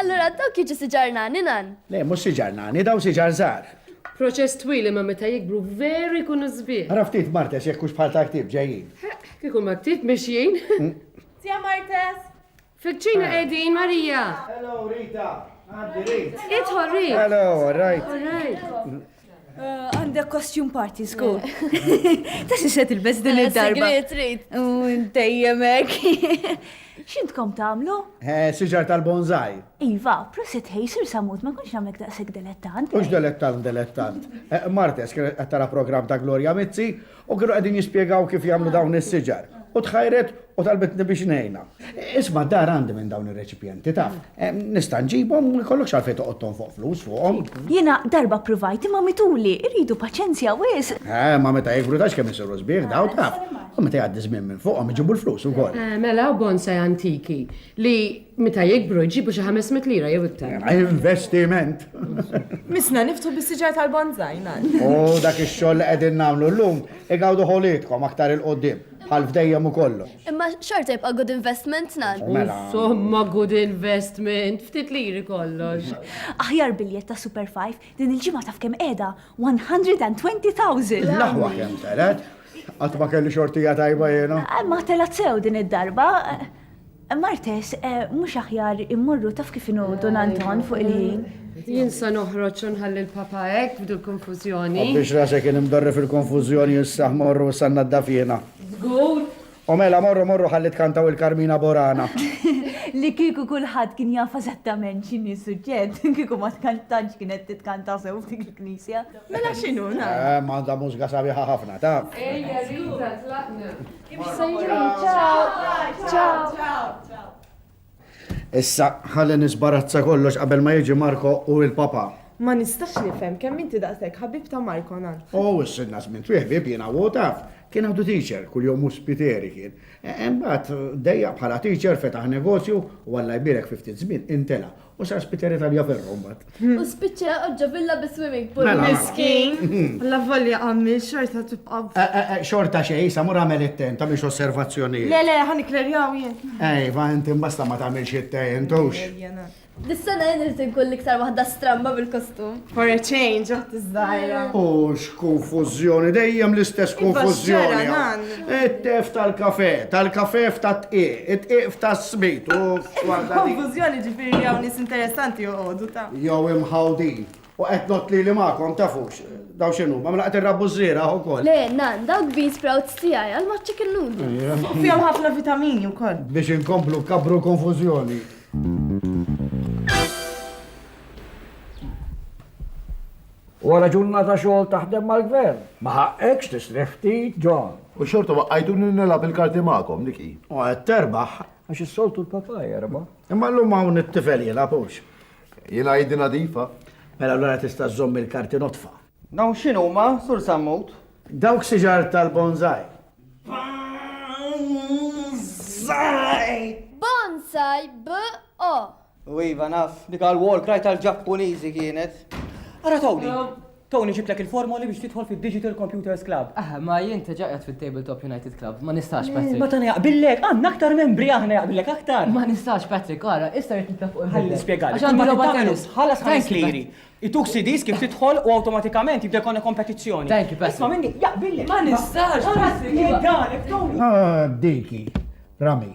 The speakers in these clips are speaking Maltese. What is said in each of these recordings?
Allura dawk jiġu siġar nani nan? Le, mhux siġar nani, dawn siġar żgħar. Proċess twil imma meta jikbru veru jkunu sbieħ. Ara ftit Martes jekk hux bħal tal-ktieb ġejjin. Ħeqq, kieku mal-ktieb mixjin. Tia Martes! Fil-kċina qegħdin, Marija! Hello, Rita! Għaddi, Rit! Idħol, Rit! Hello, all right. All right. Għandek costume party, skur. Ta' xi se tilbes din id-darba. Dejjemek. X'intkom tagħmlu? Eh, siġar tal-bonzaj. Iva, prosit ħej, sir samut, ma kunx nagħmlek daqshekk delettant. Mhux delettant, delettant. Eh, Martes kienet qed tara programm ta' Gloria Mizzi U kienu qegħdin jispjegaw kif jagħmlu dawn is-siġar. U tħajret u talbitni biex ngħinha. Isma' d-dar għandi minn dawn ir-reċipjenti, taf. Nista' nġibhom u jkollokx għalfejn toqgħod tonfoq flus fuqhom. Jiena darba ppruvajt imma mituli, iridu paċenzja wisq. Eh, ma meta jikbru tafx kemm isiru sbieħ dawn, taf. U meta jgħaddi żmien minn fuqhom iġibu l-flus ukoll. Mela, bonsai antiki li Meta jikbru jġibu xi 500 lira jew iktar. Investiment. Misna niftu bis-siġar tal-bonzaj ngħid. U dak ix-xogħol li qegħdin nagħmlu llum igawdu ħolitkom aktar il qudiem bħal fdejjem u kollox. Imma xorta jibqa' good investment nan. Mela. Insomma good investment, ftit liri kollox. Aħjar biljett ta' Super 5 din il-ġimgħa taf kemm qiegħda 120,000. L-aħwa kemm telet? Qatt ma kelli xortija tajba jiena. Ma telat sew din id-darba. Martes, mhux aħjar immorru taf kif inhu Dun Anton fuq il-ħin? Jien sa noħroġ u nħalli l-papa hekk b'dil konfużjoni. U biex rasek kien imdorri fil-konfużjoni issa morru issa nnaddaf jiena. Żgur! U mela morru morru ħalli tkantaw il-Carmina Burana. Li kieku kulħadd kien jaf eżattament x'inhi s-suġġett, kieku ma tkantantx kienet titkanta sew f'dik il-knisja. Mela x'inhu, nara. Ehm, għandha mużga sabiħa ħafna, taf. Ejja Rita, tlaqna. Issa ħalli nisbarazza kollox qabel ma jiġi Marko u l-papa. Ma nistax nifhem kemm inti daqshekk ħabib ta' Marko nant. Oh, s-sidna żmien twieħ bib jiena u taf. Kien għandu teacher, kull jom uspiteri kien. E, imbagħad dejja bħala teacher fetaħ negozju u Alla jbierek fi ftit żmien intela U sar spiċċa Italja ferro mbagħad. U spiċċa oġġo villa bi swimming pool. Mela. Miskin. La volja għammi xorta tibqa'. Eh, eh, eh, xorta xej, sa mur għamel it-ten, ta' biex osservazzjoni. Le, le, ħan iklerjaw jien. Ej, va inti mbasta ma tagħmilx it-ten, tux. Dis-sena jien irid inkun l-iktar waħda stramba bil-kostum. For a change, għat iż-żgħira. U x'konfużjoni, dejjem l-istess konfużjoni. It-tef tal-kafe, tal-kafe f'tat-tqiq, it-tqiq f'tas-smit. Konfużjoni ġifieri hawn nies interessanti joqogħdu ta'. Jew imħawdin. U qed not li li magħkom tafux. Daw x'inhu, ma mlaqgħet irrabbu żriera ukoll. Le, nan, dawk beans sprouts tiegħi għal ma' chicken noodle. Fihom ħafna vitamini wkoll. Biex inkomplu kabru konfużjoni. Wara ġurnata xogħol taħdem mal-Gvern, ma ħaqqekx tistrieħ ftit, John? U xorta waqqajtuni nilgħab il-karti magħkom, dik hi. U qed terbaħ. Għax is-soltu l-papa jerbaħ. Imma llum hawn it-tifel jilgħab hux. Jiena jiddi nadifa. Mela allura tista' żżomm il-karti nodfa. Dawn x'inhuma, Sur Sammut? Dawk siġar tal-bonsai. Bonsai! Bonsai b-o. U iva naf, dik għal wall cry tal-Ġappuniżi kienet. Ara Tony, Tony ġiblek il-formoli biex tidħol fid-Digital Computers Club. Ah, ma jien teġa qed fit-Tabletop United Club, ma nistax eh, Patrick. Ma tani jaqbillek, għandna aktar membri aħna jaqbillek aktar. Ma nistax Patrick, ara, issa qed nitlaq fuq il-ħalli spjegali. Għax għandi logħba tennis, ħalas ħames liri. Ituk CDs kif tidħol u awtomatikament jibda jkollna kompetizzjoni. Thank you, Patrick. Isma' minni, jaqbillek. Ma nistax, Patrick. Jgħidalek, Tony. Ah, diki, Rami.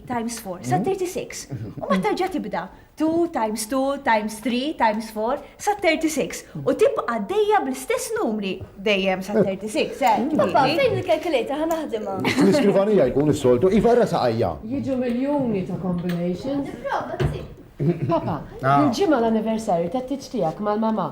times four, sa 36. U ma terġa' tibda 2 times 2 times 3 times 4 sa 36. U tibqa' dejja bl-istess numri dejjem sa 36. Eh, Papa, fejn il-kalkulator ħa naħdimha? Fl-iskrivanija jkun is-soltu, iva ra saqajja. Jiġu miljuni ta' combinations. Papa, ah. il-ġimgħa l-anniversarju tat-tiġ tiegħek mal-mama.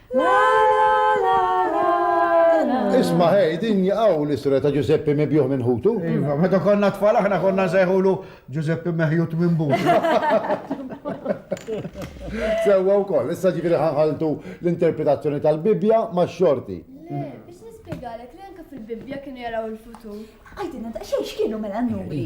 Isma' ħej, din hi hawn l-isra ta' Ġużeppi mibjugħ minn ħutu. Iva, meta konna tfal aħna konna nsejħulu Ġużeppi meħjut minn butu. Sewwa wkoll, issa ġifieri ħanħaltu l-interpretazzjoni tal-Bibbja max-xorti. Le, biex nispjegalek li anke fil-Bibbja kienu jaraw il-futur. Għidilna daqsxejn x'kienu mela n-nubri.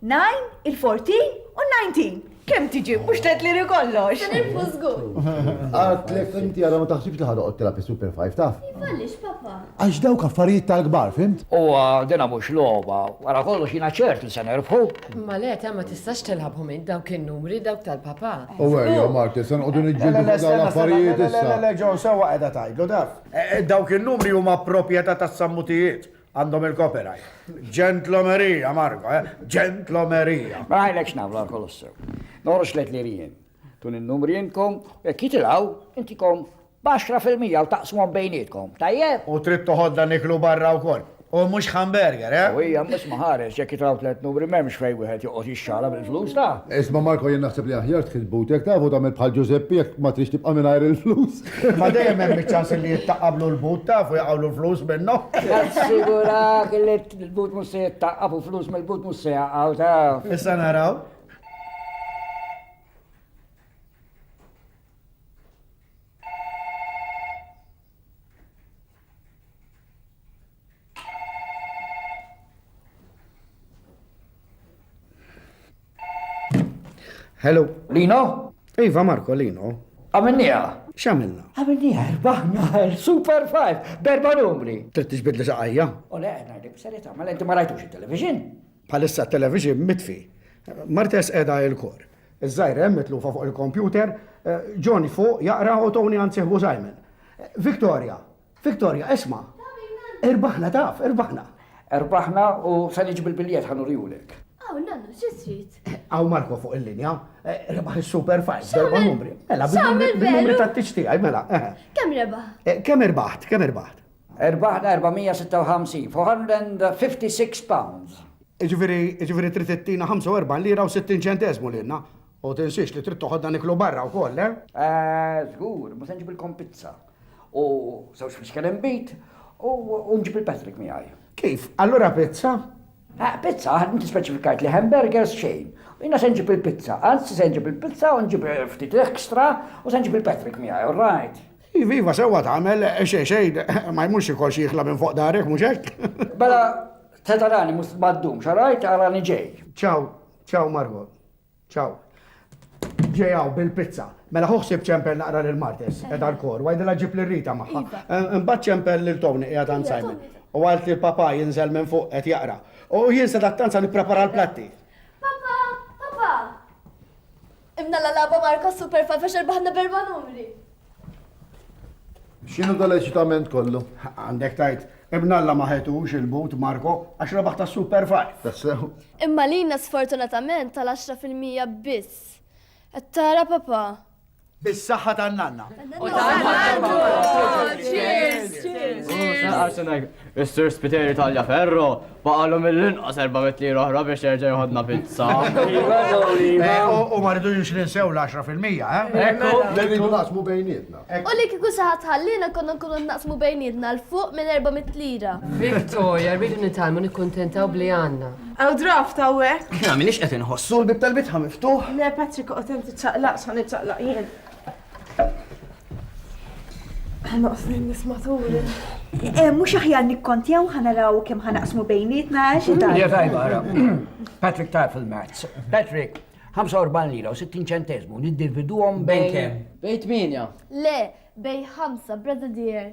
Nine, il-fourteen u n-nineteen. Kemm tiġi? Mhux tgħid li kollox. Nirfu żgur. Għadlek inti għadha ma taħsibx li ħadoqgħod tilgħab is-Super Five taf? Għaliex papa? Għax dawk affarijiet tal-kbar, fimt? U dina mhux logħba, wara kollox jiena ċert li se nerbħu. Ma le, ta' ma tistax tilgħabhom int dawk in-numri dawk tal-papa. U għerja Marti, se noqogħdu niġġieldu fuq dawn l-affarijiet issa. Le, le, John, sewwa qiegħda tgħidlu daf. Dawk in-numri huma proprjetà tas-sammutijiet. Għandhom il-copyright. Ġentlomerija, Marko, eh? Ġentlomerija. Ma għajlek xnamlu għal kolossu. Norx let li rijen. Tun il-numri jinkom, jek jitilaw, intikom baxra fil-mija u taqsmon bejnietkom. Tajjeb? U trid toħodda niklu barra u koll. U mux hamburger, eh? U hija mis maħares, jek jitilaw tlet numri memx fej wieħed joqgħod jixxala bil-flus ta'. Isma' Marko jien naħseb li aħjar tħil butek tafu tagħmel bħal Ġużeppi jekk ma trix tibqa' mingħajr il-flus. Imma dejjem hemm iċ-ċans li jittaqqablu l-but taf u jaqgħulu l-flus minnhom. Nassigurak li l-but mhux se jittaqqab u flus mill-but mhux se jaqgħu taf. Issa naraw. Hello. Lino? Iva Marko, Lino. Għamilnija? X'għamilna? Għamilnija, erbaħna, super five, berba numri. Trid tiġbid li saqajja? U le, għajna li b'serita, ma l-enti ma rajtux il-television? Bħalissa t-televixin mitfi. Martes qiegħda il-kor. Iż-żgħira hemm mitlufa fuq il-kompjuter, John fuq jaqra u Tony għand sieħbu Simon. Victoria! Victoria, isma'! Irbaħna taf, irbaħna! Rbaħna u se niġi bil-biljett ħa nurihulek. Hawn nannu, xi trid? Hawn Marco fuq il-linja. Rebaħ is-Super Five, darba numri. Mela, bil-numri tat-tix tiegħi, mela. Kemm rebaħ? Kemm irbaħt, kemm irbaħt? Erbaħna 456, £456. Jiġifieri, jiġifieri trid ittina 45 lira u 60 ċenteżmu lilna. U tinsiex li trid toħodna niklu barra wkoll, eh? Eh, żgur, ma se nġibilkom pizza. U żewġ fixkel inbid u nġib il-Patrick miegħi. Kif? Allura pizza? Eh, pizza, ħadd inti speċifikajt li hamburgers xejn. Jiena se nġib il-pizza, anzi se nġib il-pizza u nġib ftit ekstra u se nġib il-Patrick miegħi, all right? Iva, iva, sewwa tagħmel, xejn, xejn, ma jmurx xi kolx jiħla minn fuq darek, mhux hekk? Mela, se tarani mhux ma ddumx, all right, arani ġej. Ciao, ciao Margo, ciao. Ġej hawn bil-pizza. Mela ħu ħsieb ċempel naqra lil Martes, edha l-kor, wajdilha ġib lil Rita magħha. Imbagħad ċempel lil Tony qiegħed għand Simon. U għalt li l-papa jinżel minn fuq qed jaqra. U jien se dattanza nipprepara l-platti. Papa, papa! Imna la lagħba Marko Super Five għax erbaħna b'erba' numri. X'inhu dal eċitament kollu? Għandek tajt, ibn Alla ma ħetux il-but Marko għax rebaħ ta' Super Five. Tassew. Imma lilna sfortunatament tal-għaxra fil-mija biss. Qed tara papà? Bis-saħħa tan-nanna. Is-Sur Spiteri Tagliaferro baqalu mill-inqas 400 lira oħra biex jerġa' jħodna pizza. Iva, iva. U ma rridux ninsew l-10 fil-mija, eh? Ekku, rridu naqsmu bejnietna. U li kieku xi ħadd ħallina konna nkunu naqsmu bejnietna l fuq minn 400 lira. Victoria, rridu nitalmu nikkuntentaw bli għandna. Għaw draft għawek. Kna minix qed inħossu l-bib tal-bitħa miftuħ. Le, Patrick, qed inti ċaqlaq, sa niċċaqlaq jien. Ħanoqs nis matul. Eh, mux aħjar nikkontjaw ħanaraw kem ħanaqsmu bejnietna għax eh, id-dar. tajba, għara. Patrick taf il-mazz. Patrick, 45 lira u 60 ċentesmu, niddividu għom bejn kem. Bejt minja. Le, bej 5, brother dear.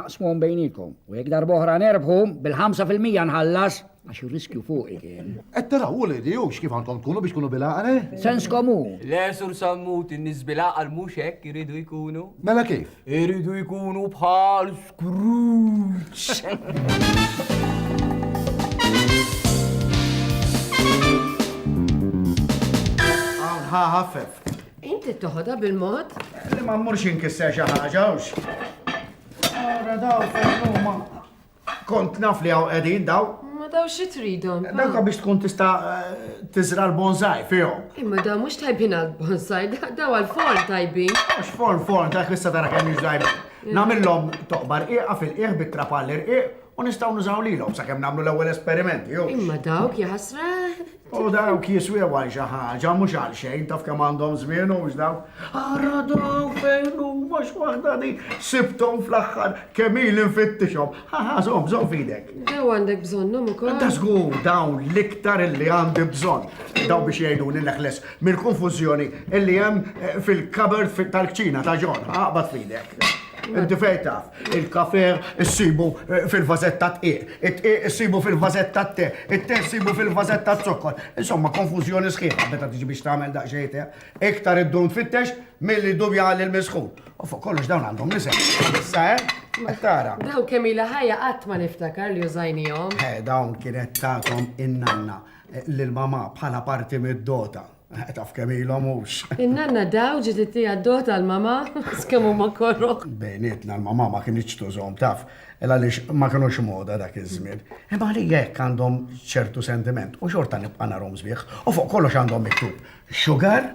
Aqsmuhom bejnikom. U jekk darb'oħra nerbħu, bil-5 fil-mija nħallas, għax ir-riskju fuqi kien. Qed taraw u lidi hux kif għandkom tkunu biex tkunu bil-għaqal, eh? Sens komu. Le, Sur Sammut, in-nies bil-għaqal mhux hekk iridu jkunu. Mela kif? Iridu jkunu bħal Scrooge. ħafef. Inti toħodha bil-mod? Li ma mmurx inkisser xi ħaġa hux. Ara daw fejnuma. Kont naf li hawn qegħdin daw. Ma daw xi tridhom. Dawka biex tkun tista' eh, tiżra l-bonsai fihom. Imma daw mhux tajbin għal bonsai, daw għal forn tajbin. Mhux forn forn dak issa tara kemm jiġdajbin. Namillhom toqbar qiegħa fil-qiegħ bit-trapall irqiq u nistgħu nużaw lilhom sakemm nagħmlu l-ewwel esperimenti. Imma dawk jaħasra U dawk jiswew għal xi ħaġa mhux għal xejn taf kemm għandhom żmien hux dawk. Ara dawk fejn huma x'waħda di sibthom fl-aħħar kemm ili nfittixhom. Ħaħa żomm żomm fidek. Daw għandek bżonnhom ukoll. Ta' żgur dawn l-iktar illi għandi bżonn. Daw biex jgħiduni neħles mill-konfużjoni illi hemm eh, fil-kabert tal-kċina ta' ġon. Aqbad fidek. Inti fejn taf, il-kafer issibu eh, fil-vażetta tqiq, it-tqiq issibu fil-vażetta t-te, it-te issibu fil-vażetta t-zokkor. Insomma, konfużjoni sħiħa meta tiġi biex tagħmel daqsxejn te. Iktar id-dun tfittex milli dubja għal il-misħu. U fuq kollox dawn għandhom nisem. Issa, eh? Tara. Daw kemm ila ħajja qatt ma niftakar li użajnihom. Eh, dawn kienet tagħtom in-nanna eh, lil mama bħala parti mid-dota. Taf kemm ilhom hux. In-nanna daw ġiet ittieha d-doħ tal-mamà, qas kemm huma koroh. Bejnietna l-mamà ma kinitx tużhom, taf, ela għaliex ma kinux moda dak iż-żmien. Imma għalija hekk għandhom ċertu sentiment u xorta nibqa' narhom sbieħ. U fuq kollox għandhom miktub sugar,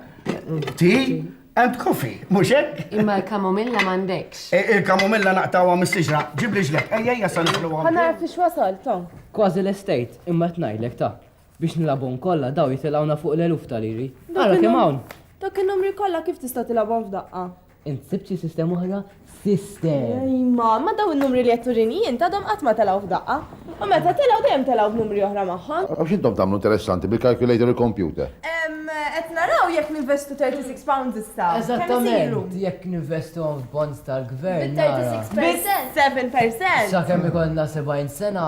tea and coffee, mhux hekk? Imma l-kamomilla m'għandekx. Il-kamomilla naqtgħuha mis-siġra, ġibli ġleb, ejja ejja sa nifluha. Ħa nara fiex wasalt, hawn. Kważi lestejt, imma qed ngħidlek, ta, Biex nilgħabhom kollha dawn jitilgħuna fuq l-eluf ta' liri. Ara kemm hawn! Dawk in-numri kollha kif tista' tilgħabhom f'daqqa? Int sibt xi sistema oħra? Sister! Ej mamma, dawn in-numri li qed turini int għadhom qatt ma telgħu f'daqqa. U meta telgħu dejjem telgħu b'numri oħra magħhom. U x'intom tagħmlu interessanti bil-calculator u l-computer? Ehm, qed naraw jekk ninvestu 36 pounds issa. Eżattament, jekk ninvestuhom f'bonds tal-gvern nara. Bi 7%! Bi 7%! Sakemm ikollna 70 sena,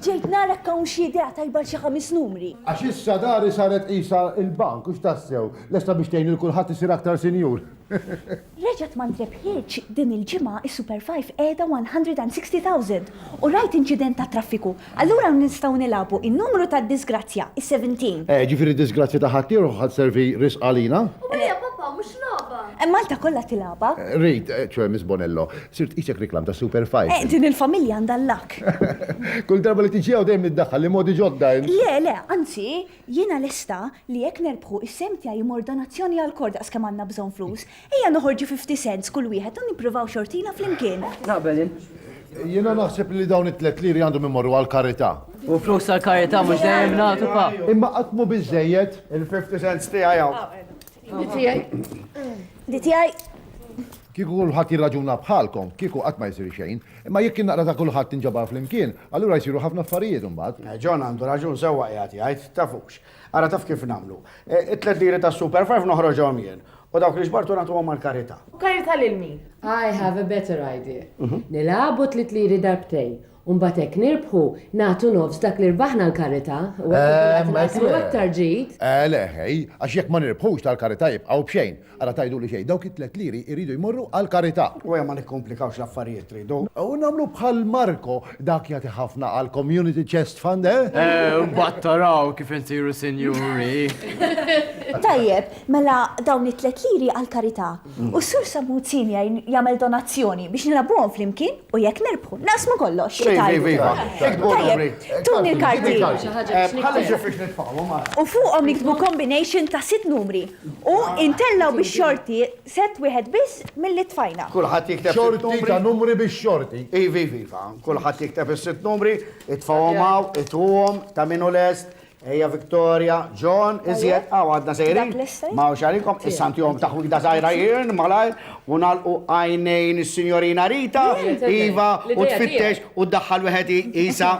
Ġejt nara jekk hawn xi idea tajba għal xi ħames numri. Għax issa dari saret qisha l-bank, hux tassew, lesta biex tgħin lil kulħadd isir aktar sinjur. Reġgħet ma ntrebħitx din il-ġimgħa s-Super Five qiegħda 160,000 u rajt inċident tat-traffiku. Allura hawn nistgħu nilagħbu in-numru tad-disgrazzja, is-seventeen. Eh, ġifieri d-disgrazzja ta' ħaddieħor ħa sservi risq għalina? U hija, papà, mhux logħba! Malta kollha tilagħabha. Rrid, ċoe Miss Bonello, Sirt qisek reklam ta' Super Five. Eh, din il-familja għandha l-luck! Kull darba li tiġi hawn dejjem niddaħħal li modi ġodda int. Le, le, anzi, jiena lesta li jekk nerbħu, is-sehem tiegħi jmur donazzjoni għall-kor daqs kemm għandna bżonn flus. Ejja noħorġu fifty cents kull wieħed u nippruvaw xortina flimkien. Naqbel jien. Jiena naħseb li dawn it-tliet liri għandhom imorru għall-karità. U flus għall-karità mhux dejjem nagħtu pa. Imma qatt mhu biżżejjed. Il-fifty cents tiegħi hawn. Di tiegħi. Di tiegħi. Kieku kulħadd jirraġuna bħalkom, kieku qatt ma jsir xejn. Imma jekk in-naqra ta' kulħadd tinġabar flimkien, allura jsiru ħafna affarijiet imbagħad. John għandu raġun sewwa qiegħed jgħid, tafux. Ara taf kif nagħmlu. It-tliet liri tas-Super Five noħroġhom jien, u dawk li ġbartu nagħtuhom għall-karità. Karità lil min? I have a better idea. Nilagħbu t-tliet liri darbtejn, U mbagħad hekk nirbħu, nagħtu nofs dak li rbaħna l-karità, u hekk ikun qed inqassmu aktar ġid. Eh le, ħej, għax jekk ma nirbħux tal-karità jibqgħu b'xejn. Ara tgħiduli xejn, dawk it-tliet liri jridu jmorru għall-karità. U ejja ma nikkomplikawx l-affarijiet, tridu? U nagħmlu bħal Marco, dak jagħti ħafna għall-Community Chest Fund, eh? Eh, u mbagħad taraw kif insiru sinjuri. Tajjeb, mela dawn it-tliet liri għall-karità. U s-Sur Sammuzzin jgħin jagħmel donazzjoni biex nilagħbuhom flimkien u jekk nirbħu, naqsmu kollox! Tajjeb, tuni l-karti! U fuqhom niktbu kombination ta' sitt numri u intellgħu bix-xorti sett wieħed biss milli tfajna. Kulħadd jikteb sitt numri. Xorti ta' numri bix-xorti. Iva, iva, iva. Kulħadd jikteb is-sitt numri, itfgħuhom hawn, itwuhom, ta' min hu lest, Ejja Victoria, John, iżjed hawn għadna sejrin. Ma hawnx għalikom, issa ntihom taħwida żgħira jirn malajr u nagħlqu għajnejn is-Sinjorina Rita, iva, u tfittex u ddaħħal wieħed isa.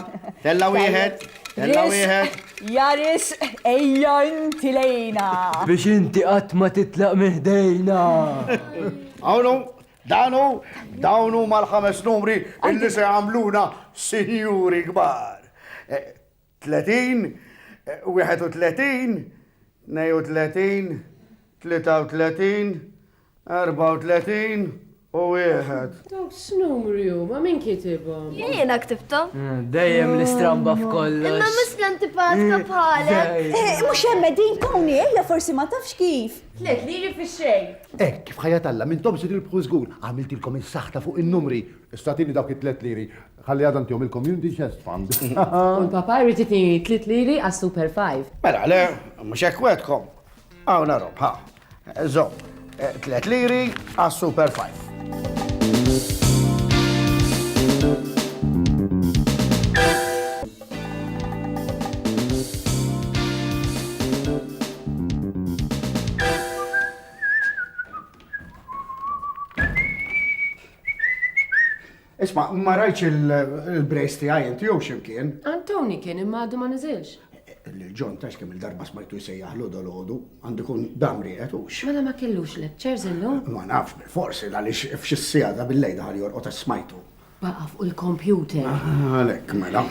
Tella' wieħed, tella' wieħed. Jaris, ejja inti lejna. Biex inti qatt ma titlaq minn ħdejna. Hawn Danu, dawnu mal-ħames numri illi se għamluna sinjuri kbar. Eh, 30 31 32 33 34 u wieħed. Dawk x'numri huma min kitibhom? Jiena ktibthom. Dejjem nistramba f'kollox. Imma mhux l-antipatka bħalek. Mhux hemm qegħdin Tony, ejja forsi ma tafx kif. Tliet liri fix-xejn. Hekk kif ħajja t'Alla m'intomx se tirbħu żgur, għamiltilkom is-saħta fuq in-numri. Issa tini dawk it-tliet liri. Ħalli għada ntihom il-Community Chest Fund. U l-Papa jrid itini tliet liri għas-Super Five. Mela le, mhux hekk wegħedkom. Hawn arob, ħa. Żomm, tliet liri għas-Super Five. Isma, ma rajtx il-brejs tiegħi inti jew x'imkien. Antoni kien imma għadu ma niżilx. Lil John tax kemm il-darba smajtu jsejjaħlu dolodu, għandu kun dam rieqet u x. Mela ma kellux lectures illum? Ma nafx bil-forsi għaliex f'xi sija ta' bil-lejda ħal jorqod smajtu. Baqa' fuq il-kompjuter. Għalhekk mela.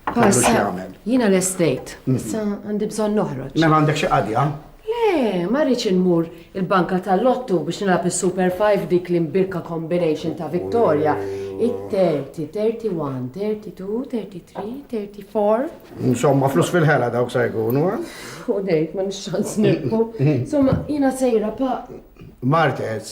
Kellu x'jagħmel. Jiena l-estate, mhm. issa għandi bżonn noħroġ. Mela għandek xi qadja? Le, ma rridx inmur il-banka tal-lottu biex nilgħab is-Super 5 dik l-imbirka combination ta' Victoria. It-30, 31, 32, 33, 34. Insomma, flus fil-ħela dawk sa jkunu, eh? U dejt, ma nixxans nirku. Insomma, jiena sejra pa. Martes,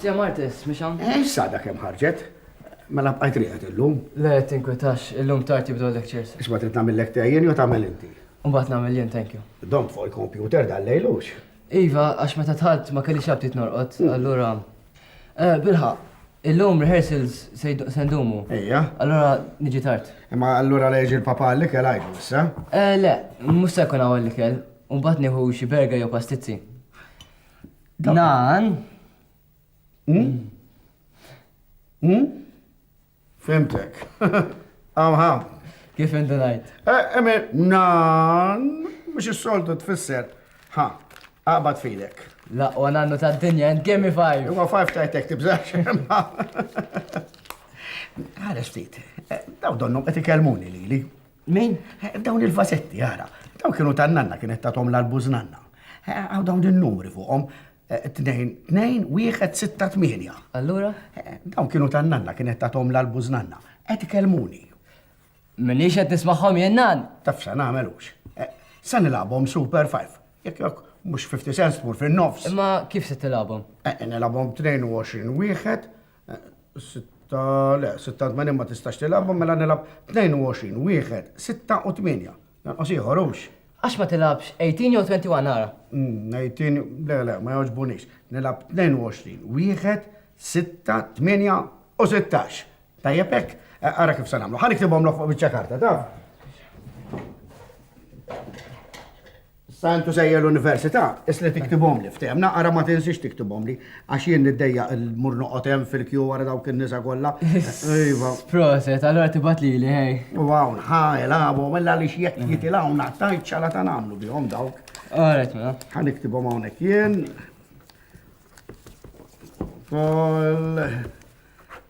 Zja Martes, miex hawn? Eh, sada kemm ħarġet. Mela bqajt riħet illum. Le, tinkwitax, illum tard jibdu l-lectures. Isma trid nagħmillek te jien jew tagħmel inti. Mbagħad nagħmel jien, thank you. Dom fuq il-kompjuter dan lejlux. Iva, għax meta tħalt ma kellix abtit norqod, mm. allura. Eh, Bilħa, illum rehearsals se ndumu. Ejja. Allura niġi tard. Imma allura leġi l-papa li kell għajdu issa? Eh, le, mhux se jkun hawn li kell. U mbagħad nieħu xi berga jew pastizzi. Nan. Hmm? Hmm? Fimtek. Amha. Kif inti ngħid? Eh, Emir, nan, mhux is-soltu tfisser. Ha, aqbad fidek. La, u għanannu ta' dinja, and give me five. Huwa five tajtek tibżax. Għara ftit, eh, daw donnhom qed ikellmuni lili. Min? Dawn il-vasetti, ara. Dawn kienu ta' nanna kienet ta' tom l-albuż nanna. Għaw dawn il-numri fuqhom. 2-1-6-8. Allura? Dawn kienu ta' nanna kienet ta' tom l-albuż nanna. Qed ikellmuni. Minix qed nismagħhom jien nan. Tafsa nagħmelux. Sa nilagħbhom Super 5. Jekk jekk mhux 50 cents tmur fin-nofs. Imma kif se tilagħbhom? Nilagħbhom 22 wieħed Sitta, le, sitta tmenin ma tistax tilgħabhom mela nilgħab 22, wieħed, sitta u tmienja. Jonqos ieħor hux? Għax ma tilgħabx 18 jew 21 ara? 18, le, le, ma jogħġbunix. Nilgħab 22, wieħed, sitta, tmienja u sittax. Tajjeb hekk? Ara kif se nagħmlu. Ħa niktibhomlok fuq biċċa karta, taf? Sa intu sejjer l-università, isli tiktibhomli, ftehmna, ara ma tinsiex tiktibhomli, għax jien niddejja il-mur noqgħod hemm fil-kju wara dawk in-nisa kollha. Iva. Proset, allora tibgħat li li ħej. U hawn ħa ilagħbu mela li x'jekk jitilgħu naqtajt xala ta' nagħmlu bihom dawk. Alright, mela. Ħa niktibhom hawnhekk jien. Kol.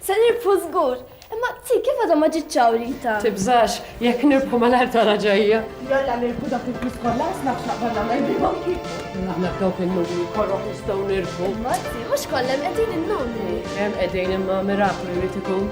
Se nirbħu żgur! Imma Zzi, kif għadha ma ġietx hawn Rita? Tibżax, jekk nirbħu malajr tara ġejja. Jalla nirbħu dak il-flus kollha għax naf x'naqbad nagħmel bihom kieku. Aħna b'dawk in-numri korroħ nistgħu nirbħu. Imma Zzi, mhux kollha hemm qegħdin in-numri. Hemm qegħdin imma miraklu jrid ikun.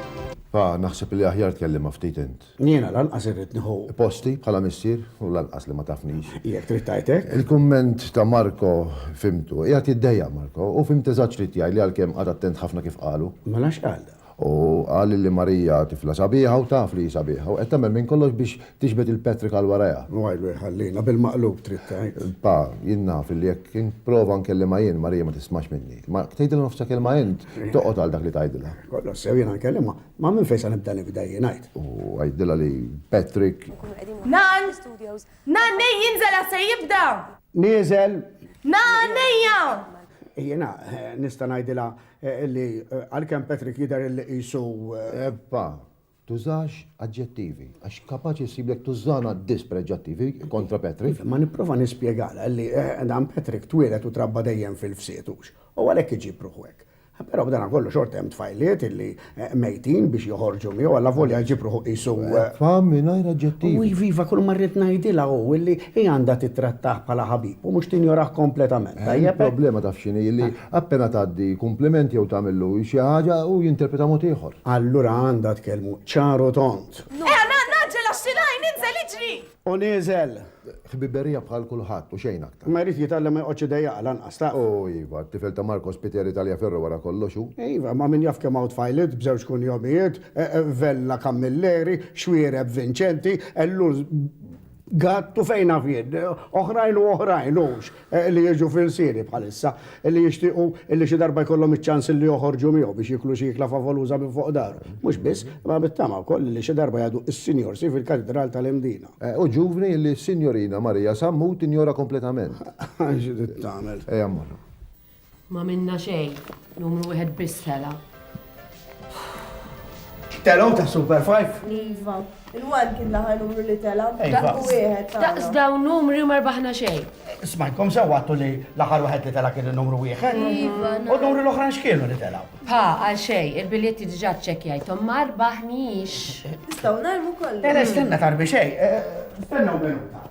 Pa, naħseb li aħjar tkellimha ftit int. Ġeneral. Jiena lanqas irrid nieħu. Posti bħala missier u lanqas li ma tafnix. Jekk trid tgħid hekk. Il-kumment ta' Marco fhimtu. Qiegħed jiddejjaq Marco. Hu fhimt eżatt x'ried jgħid li għalkemm qagħad attent ħafna kif qalu. Mela x'qal dan? Hu qal li Marija tifla sabiħa u taf li hi sabiħa u qed tagħmel minn kollox biex tiġbed il-Patrick għal warajha. Wajlu jħallina, bil-maqlub trid tgħid. Pa, jien naf li jekk nipprova nkellimha jien, Marija ma tismax minni. Ma tgħidilha nofsa kelma int, toqgħod għal dak li tgħidilha. Kollox sew, jiena nkellimha. Ma' minn fejn sa nibda nifda jien għid. U għidilha li Patrick. Nan! Nan nej jinżel għax se jibda! Nieżel! Nan ejja! Jiena nista' ngħidilha eh, li eh, għalkemm Patrick jidher li qisu. Eh, Ebba, tużax aġġettivi, għax kapaċi ssiblek tużana dispreġġattivi kontra Patrick. Ma nipprova nispjegalha li dan Patrick twieled u trabba dejjem fil-fsietux. U għalhekk iġib ruħu hekk. Però b'danakollu xorta hemm tfajliet illi mejtin biex joħorġu miegħu allavolja jġib ruħu qisu. Fam mingħajr aġġettivi. U iva, iva, kulma rrid ngħidilha hu illi hi għandha tittrattah bħala ħabib u mhux tinjorah kompletament, tajjeb hekk? Il-problema taf x'inhi, illi appena tgħaddi kumpliment jew tagħmillu xi ħaġa hu jinterpreta mod ieħor. Allura għandha tkellmu ċar u tond. Eħe, ngħaġġel għax xi l-għajn inżel iġri! U nieżel. Ħbiberija bħal kulħadd u xejn aktar. Imma jrid jitgħallem ma joqgħodx idejjaqha lanqas, taf. O, iva, t-tifel ta' Marco Spiteri Tagliaferro wara kollox hu. Iva, imma min jaf kemm hawn tfajliet b'żewġ kunjomijiet, Vella Camilleri, Xuereb Vincenti, Ellul Gatt u fejn naf jien, oħrajn u oħrajn, hux? li jiġu f'ilsieni bħalissa, li jixtiequ li xi darba jkollhom iċ-ċans li joħorġu miegħu biex jieklu xi ikla favoluża minn fuq daru. Mhux biss, imma bit-tama wkoll li xi darba jgħaddu s-Sinjorsi fil-Katidral tal-Imdina. U ġuvni li s-Sinjorina Marija Sammut tinjora kompletament. Xi trid tagħmel? Ejja mmorru. M'għamilna xejn, numru wieħed biss tela'. Telgħu ta' Super Five? Iva, il-one kien l-aħħar numru li tela'. Dak wieħed. Daqs dawn numri ma rbaħna xejn. Smajkom sewwattu li l-aħħar wieħed li tela' kien il-numru wieħed. Iva, U numri l-oħra x'kienu li tela'? Pa, għal xejn, il-biljetti diġà ċċekkjajthom ma rbaħniex. Nistgħu narmu kollu. Era stenna tarbi xejn. Stenna u minuta.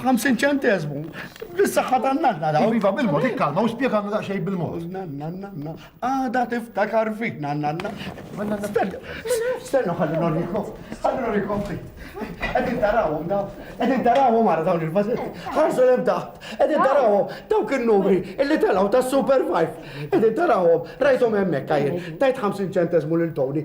50 ċentesmu. Bis-saħħa ta' nanna daw. Iva bil-mod, ikkalma u spjegalna daqsxejn bil-mod. Nanna, nanna, għada tiftakar fik, nanna, nanna. Stenna, stenna ħalli norikom, ħalli norikom fik. Edin tarawhom daw, edin tarawhom għara dawn il-vażetti. Ħarsu l-ebda, edin tarawhom dawk il-numri illi telgħu ta' Super 5. Edin tarawhom, rajthom hemmhekk għajr, tajt 50 ċentesmu lil Tony,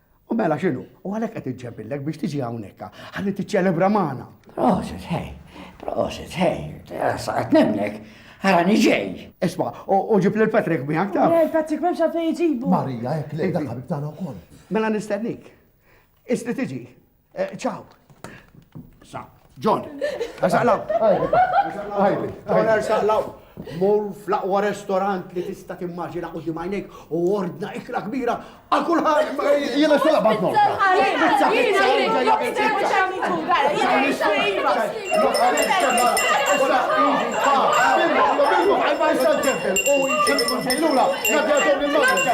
U mela x'inhu? U għalhekk qed iġġemillek biex tiġi hawnhekk ħalli tiċċelebra magħna. Prosit, hej, prosit, hej, sa qed nemnek. Għara niġej. Isma, u ġib li l-Patrick miħak ta' Le, Patrick memx għalfej iġibu. Marija, jek li dak ħabib tagħna wkoll. Mela nistennik. Isti tiġi. Ciao. Sa, John, saqlaw. John, saqlaw. Mur fl-aqwa restorant li tista' timmaġina u dimajnek u ordna ikla kbira għal kulħadd. Jiena xogħol bad mor. Pizza, pizza, ġejja pizza. Ma jistax ġebel u jċekku ġejlula, nadja ġobni l-marġa.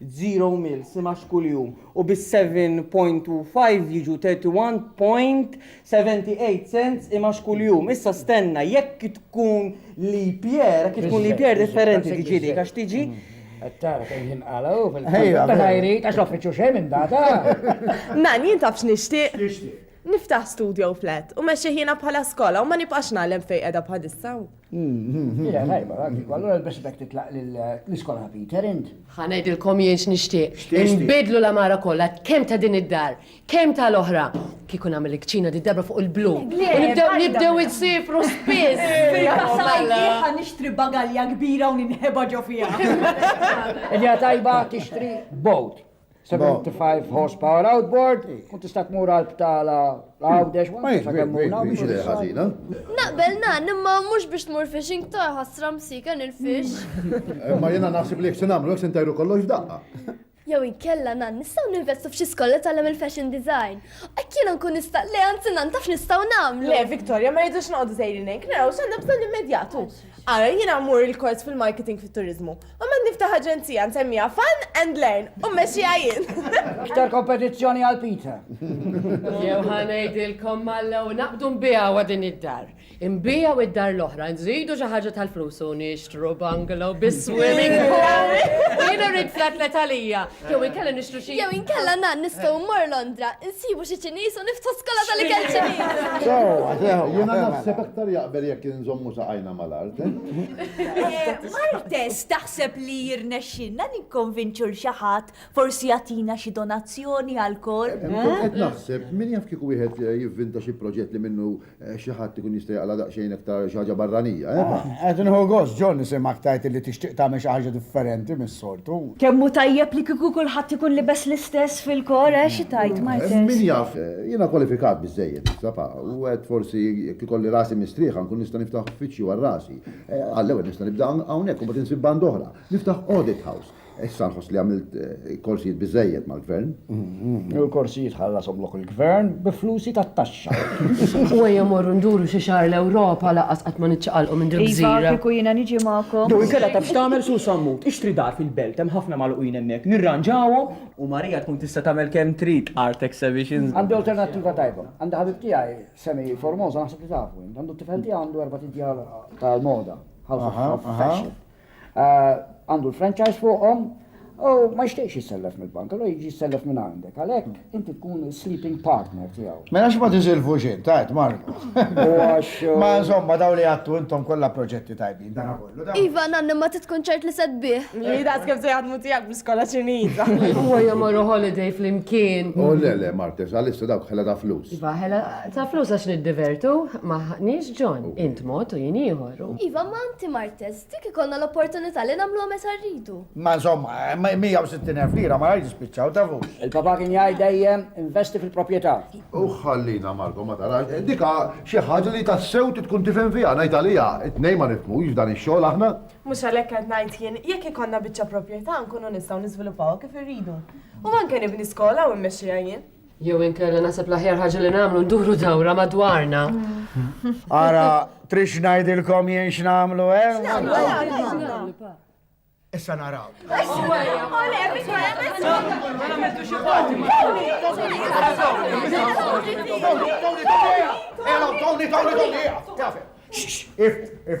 zero mil simax kuljum u bis-7.25 jiġu 31.78 cents imax kuljum. Issa stenna jekk tkun leap year, jekk tkun leap year differenti tiġi dik għax tiġi. Qed tara kemm jinqala' hu fil-ħajja. Meta jrid għax l-offiċċju xejn minn data. Man, jien taf x'nixtieq? X'tixtieq? Niftaħ studio flat u mexxih jiena bħala skola u ma nibqax nagħlem fejn qiegħda bħalissa. Hija tajba, għandiku, allura l-besibek titlaq l-iskola ta' Peter int. Ħa ngħidilkom jien x'nixtieq. Inbidlu l-għamara kollha, kemm ta' din id-dar, kemm ta' l-oħra. Kieku nagħmel il-kċina di darba fuq il-blu. Nibdew insifru spiss. Ħa nixtri bagalja kbira u ninħeba ġo fiha. Hija tajba tixtri bowt. 75 horsepower outboard, u tista' tmur għal btala għawdex Naqbel nan, imma mhux biex tmur fishing ta' ħasra msika nil-fish. Eh, ma jiena naħseb li jekk se nagħmlu se ntajru kollox daqqa. Jew inkella nan nistgħu ninvestu f'xi skolla tagħlem il-fashion design. Hekk jiena nkun nista' le anzi nan taf nistgħu nagħmlu. Le, Victoria, ma jidux noqgħdu sejrin hekk, naraw x'għandna bżonn immedjatu. Ara jiena mmur il-kors fil-marketing fit-turiżmu U mad niftaħ aġenzija nsemmiha Fun and Learn u mmexxiha jien. Iktar kompetizzjoni għal Peter. Jew ħanejdilkom mallew naqbdu nbijaw din id-dar. Imbijaw id-dar l-oħra, nżidu xi ħaġa tal-flus u nixtru bungalow bis-swimming pool. Jien irrid flat let għalija. Jew inkella nixtru xi. Jew inkella nan nistgħu mmor Londra, nsibu xi Ċiniż u niftħu skola tal-ikel Ċiniż. Sewa, sewa. Jiena naħseb aktar jaqbel jekk inżommu saqajna. mal-art. Martes, taħseb li jirnexxinna nikkonvinċu l xi ħadd forsi jagħtina xi donazzjoni għal kol? Qed naħseb min jaf kieku wieħed eh, jivvinta xi proġett li minnu eh, xi ħadd ikun jista' jaqla daqsxejn aktar xi ħaġa barranija. Eh? Ah, qed inħu gost John nisimgħek tajt li tixtieq tagħmel xi ħaġa differenti minn sortu. Kemm hu tajjeb li kieku kulħadd ikun libes l-istess fil-kor, eh, xi tgħid, Martes? Min jaf, jiena kwalifikat biżżejjed, sapa, u għedt forsi jekk ikolli rasi mistrieħa nkun nista' niftaħ uffiċċju għal rasi. Għall-ewwel nista' nibda hawnhekk u mbagħad insib band oħra. Niftaħ audit house. Issa nħoss li għamilt korsijiet biżżejjed mal-gvern. Il-korsijiet ħallasom lok il-gvern bi flusi tat-taxxa. U ejja morru nduru xi xahar l-Ewropa laqas qatt ma niċċaqalqu minn dil-gżira. Iva, kieku jiena niġi magħkom. Jew inkella taf x'tagħmel Sur Sammut, ixtri dar fil-belt, hemm ħafna magħluqin hemmhekk, nirranġawhom u Marija tkun tista' tagħmel kemm trid art exhibitions. Għandi alternattiva tajba. Għandi ħabib tiegħi Semi Formosa naħseb li tafu int. Għandu t-tifel tiegħu għandu erbat' idjar tal-moda, house of fashion. għandu l-franchise fuqhom u ma jixtieqx jissellef mill-bank, allura jiġi jissellef minn għandek. Għalhekk inti tkun sleeping partner tiegħu. Mela għax ma tiżilfux int, għid Marco. U għax. Ma insomma dawn li għadtu intom kollha proġetti tajbin dana kollu. Iva, nanna imma trid tkun ċert li se tbigħ. Li daqs kif se jaħdmu tiegħek bl-iskola Ċiniża. Huwa jmorru holiday flimkien. O le le Martes, għalissa dawk ħela ta' flus. Iva, ħela ta' flus għax niddivertu, m'aħniex John, int mod u jien ieħor. Iva, ma inti Martes. Test, jekk ikollna l-opportunità li nagħmluha meta rridu. Imma insomma, 160,000 lira ma jridx jispiċċaw, tafux. Il-papa kien jgħid dejjem, investi fil-proprjetà. U ħallina Marco, ma tarax, dik ha xi ħaġa li tassew trid tkun tifhem fiha, ngħid għaliha, it-tnejn ma nifhmux f'dan ix-xogħol aħna. Mhux għalhekk qed ngħid jien, jekk ikollna biċċa proprjetà nkunu nistgħu niżviluppawha kif irridu. U anke nibni skola u immexxiha jien. Jew inkella naħseb l-aħjar ħaġa li nagħmlu nduru dawra madwarna. Ara, trix ngħidilkom jien x'nagħmlu hemm? Eh? Issa naraw. If, if,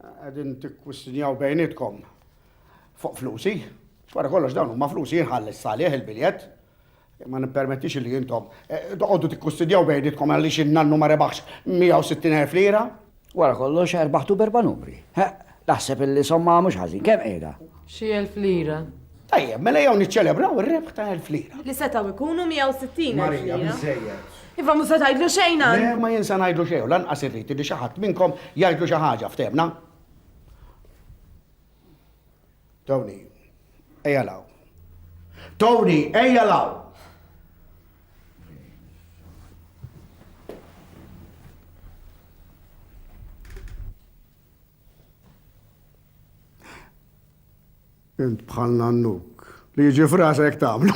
Qegħdin tikkwistnjaw bejnietkom fuq flusi. Wara kollox dawn huma flusi jinħall is-salih il-biljett. Ma nippermettix li intom eh, toqgħodu tikkwistnjaw bejnietkom għaliex in-nannu ma rebaħx 160,000 lira. Wara kollox erbaħtu berba numri. Naħseb illi somma mhux ħażin, kemm qiegħda? Xi elf lira. Tajjeb, mela jew niċċelebraw ir-rebħ ta' elf lira. Li setgħu jkunu 160 Marija, biżejjed. Iva mhux se tgħidlu xejn għan. Le ma jien se ngħidlu xejn u lanqas irrid li xi ħadd minnkom jgħidlu xi ħaġa ftehmna. Tony, ejja law. Tony, ejja law. Int bħal Nannuk li jiġi f'rasa jekk tagħmlu.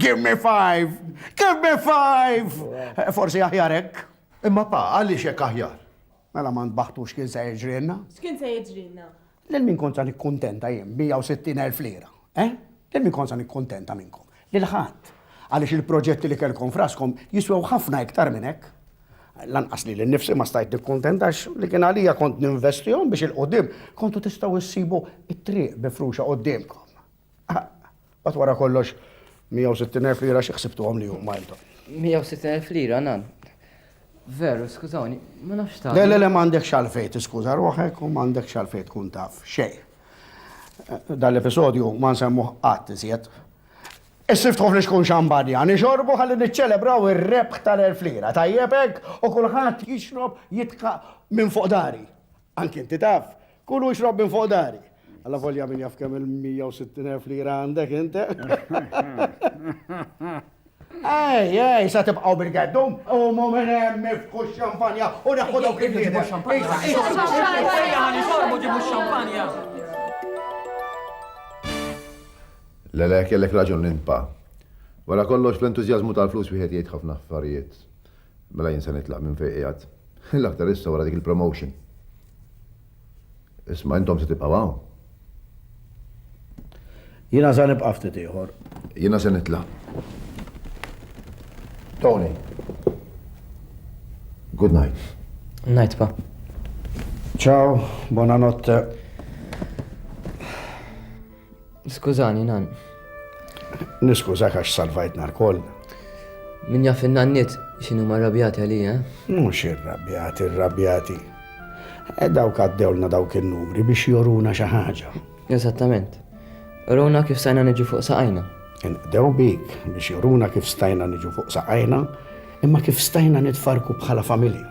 Give me five! Give me five! Forsi aħjar hekk. Imma pa, għaliex hekk aħjar? Mela ma ntbaħtux kien se jiġrilna. X'kien se jiġrilna? Lil min kont se nikkuntenta jien b'160,000 lira? Eh? Lil min kont se nikkuntenta minnkom? Lil ħadd, għaliex il-proġetti li kellkom f'raskom jiswew ħafna iktar minn hekk. Lanqas lili nnifsi ma stajt nikkuntenta għax li kien għalija kont ninvestihom biex 'il quddiem kontu tistgħu issibu t-triq mifruxa quddiemkom. Mbagħad wara kollox, 160 elf lira xi ħsibtuhom li huma intom? 160 elf lira, nan. Veru, skużawni, ma nafx tagħmel. Le, le, le, m'għandekx għalfejn tiskuża ruħek u m'għandekx għalfejn tkun taf xejn. Dan l-episodju ma nsemmuh qatt iżjed. Issiftħu fl-ixkun xambarja, nixorbu ħalli niċċelebraw ir-rebħ tal-elf lira, tajjeb hekk? U kulħadd jixrob jitħaq minn fuq dari. Anki inti taf, kulu jixrob minn fuq dari. Alla volja min jaf kemm il-160,000 lira għandek inti. Ej, ej, sa tibqaw bil-geddu, u mu minn hemm ifku xampanja u neħu dawk il-ġibu xampanja. Lele, kellek raġun l-impa. Wara kollox, fl-entużjażmu tal-flus wieħed jgħid ħafna affarijiet. Mela jien se nitlaq minn fejn qiegħed. L-aktar issa wara dik il-promotion. Isma' intom se tibqgħu hawn. Jiena sa nibqa' ftit ieħor. Jiena se nitlaq. Tony. Good night. Night pa. Ciao, buonanotte. Skużani, Nann. Niskużak għax salvajtna lkoll. Min jaf in-nanniet x'inhuma rrabjati għalija. Mhux irrabjati, irrabjati. E dawk għaddewlna dawk in-numri biex joruna xi ħaġa. Eżattament. Uruna kif stajna niġu fuq saqajna. Inqdew bik biex joruna kif stajna niġu fuq saqajna, imma kif stajna nitfarku bħala familja.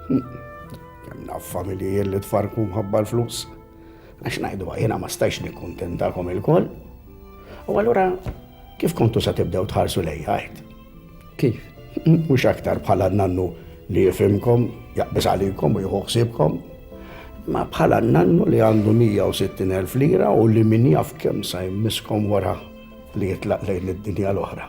Kemm naf familji li tfarku mħabba l-flus. Għax ngħidu jiena ma stajx nikkuntentakom ilkoll. U allura kif kontu sa tibdew tħarsu lej ħajt? Kif? Mhux aktar bħala nannu li jifimkom, jaqbis għalikom u jħuħsibkom. Ma bħala nannu li għandu 160.000 lira u li min jaf kemm sa jmiskom wara li jitlaq lejn id-dinja l-oħra.